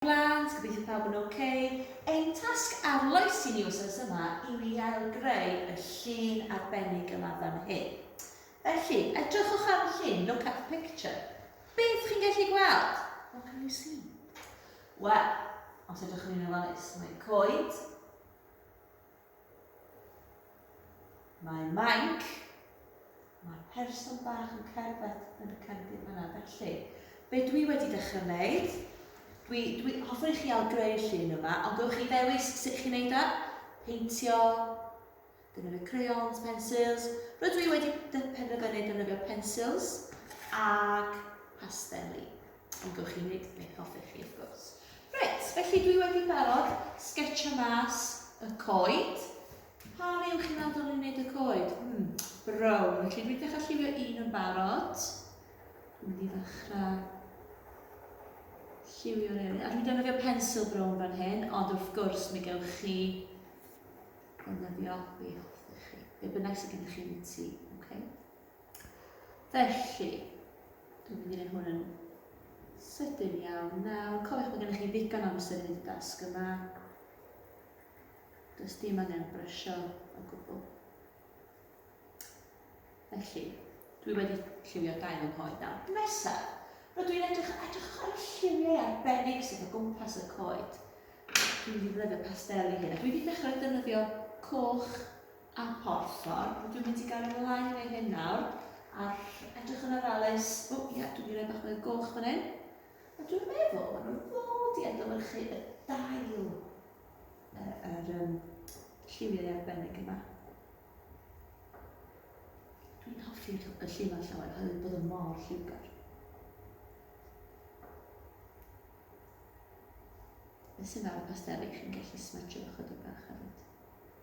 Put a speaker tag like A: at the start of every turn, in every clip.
A: Blant, gobeithio pawb yn ok. Ein tasg arloes i ni wsos yma yw i ailgreu y llun arbennig yma fan hyn. Felly, edrychwch ar y llun, look at the picture. Beth chi'n gallu gweld? What can you see? Wel, os edrychwn ni'n ofalus, mae coed, Mae Mike, mae'r person bach yn cerdded yn y cefndir fanna, felly, be dwi wedi dechrau wneud, dwi, dwi hoffwn i chi al greu llun yma, ond gywch chi ddewis sut chi'n neud o, peintio, defnyddio crayons, pensils, rydw i wedi penderfynu defnyddio pensils ac pasteli. Ond gewch chi wneud beth hoffech chi, wrth gwrs. Reit, felly dwi wedi barod sgetio mas y coed. Pa le yw'ch chi'n meddwl dylwn i wneud y coed? Hmm, brown. Felly dwi'n dechrau lliwio un yn barod. Dwi'n mynd i ddechrau lliwio'r eraill. A dwi'n defnyddio pensil brown fan hyn, ond wrth gwrs mi gewch chi ddefnyddio be hoffech chi. Be bynnag sydd gennych chi yn y tŷ, oce? Okay? Felly, dwi'n mynd i wneud hwn yn sydyn iawn nawr. Cofiwch bod gennych chi ddigon amser i wneud y dasg yma. Does dim angen brysio o gwbl. Felly, dwi wedi lliwio dau fy nghoed nawr. Nesa, rydw i'n edrych, edrych ar y lliwiau arbennig sydd o gwmpas y coed. Dwi'n mynd i ddefnyddio pastel i hyn. Dwi wedi dechrau defnyddio coch a phorffor, dwi wedi gael yn lai neu hyn nawr, a edrych yn ofalus, o oh, ia, dwi'n mynd i roi bach mwy o goch fan hyn, a dwi'n meddwl, maen nhw'n fod i adlewyrchu y dail yr um, lliwiau arbennig yma. Dwi'n hoffi y lliwau llawer, oherwydd bod yn mor lliwgar. Beth sy'n ar y pasteli, chi'n gallu smatio ychydig bach hefyd.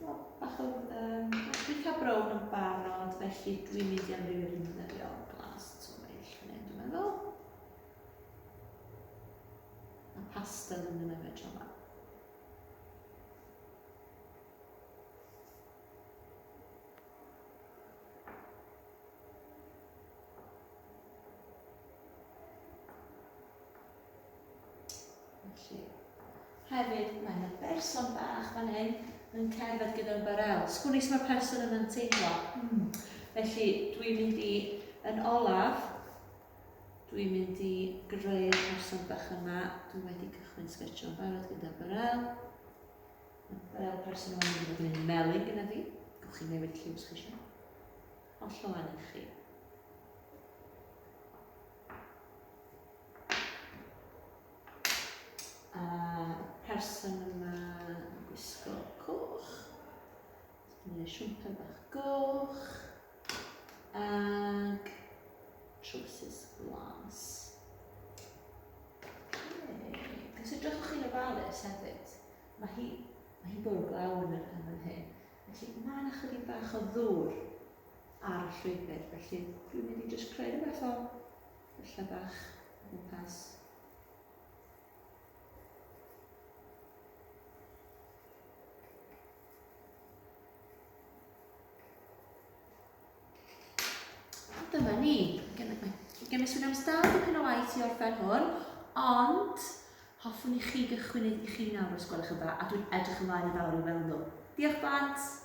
A: Wel, bach o um, recap brown yn barod, felly dwi'n mynd i amrywio dwi'n defnyddio glas twmeill fan hyn, dwi'n meddwl. A pastel yn mynd efo tro Felly, hefyd, mae yna berson bach fan hyn yn cerdded gyda'n barel. Sgwn i mae'r person yna'n teimlo. Hmm. Felly, dwi'n mynd i, yn olaf, dwi'n mynd i greu person bach yma. Dwi wedi cychwyn sgetsio yn barod gyda barel. Mae barel person yma yn mynd i'n melyn gyda fi. Gwch chi newid lliw sgetsio. chi eisiau. Hollol angen chi. person yma yn gwisgo coch. Mae'n siwmper bach goch. Ac trowsus glas. Os ydych chi'n ofalus hefyd, mae hi, mae hi bwrw glaw yn yr hyn hyn. Felly mae yna chydig bach o ddŵr ar y llwybr, felly dwi'n mynd i jyst creu rhywbeth o y lle bach o gwmpas. Dyma ni. Gen i swnio'n stad i pyn o waith i orffen hwn, ond hoffwn i chi gychwyn i chi nawr os gwelwch yn dda, a dwi'n edrych ymlaen yn fawr i weld nhw. Diolch blant!